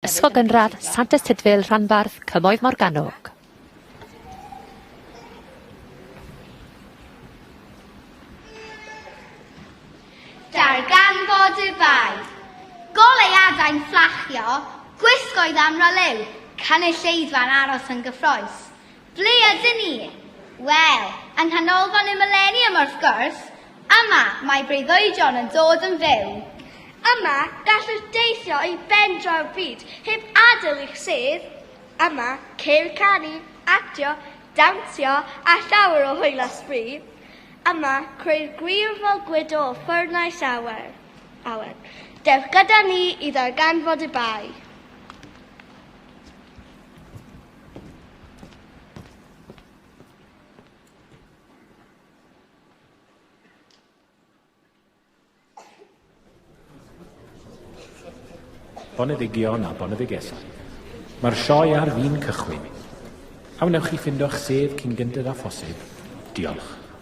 Ysgol Gynradd Sant Ystydfil Rhanbarth Cymoedd Morgannwg. Darganfod y Bae. Goleuadau'n fflachio, gwisgoedd am raleu, cynulleidfa'n aros yn gyffrous. Ble ydyn ni? Wel, yng Nghanolfan y Mileniwm wrth gwrs! Yma, mae breuddwydion yn dod yn fyw. Yma, gallwch deithio i ben draw'r byd heb adael eich sedd. Yma, ceir canu, actio, dawnsio a llawer o hwyl a sbri. Yma, creu'r gwir fel gwydo o ffwrnais awer. Awer. Dewch gyda ni i ddarganfod y bai. Boneddigion a boneddigesau. Mae'r sioe ar fin cychwyn. A wnewch chi ffindio'ch sedd cyn gyntaf â phosib? Diolch.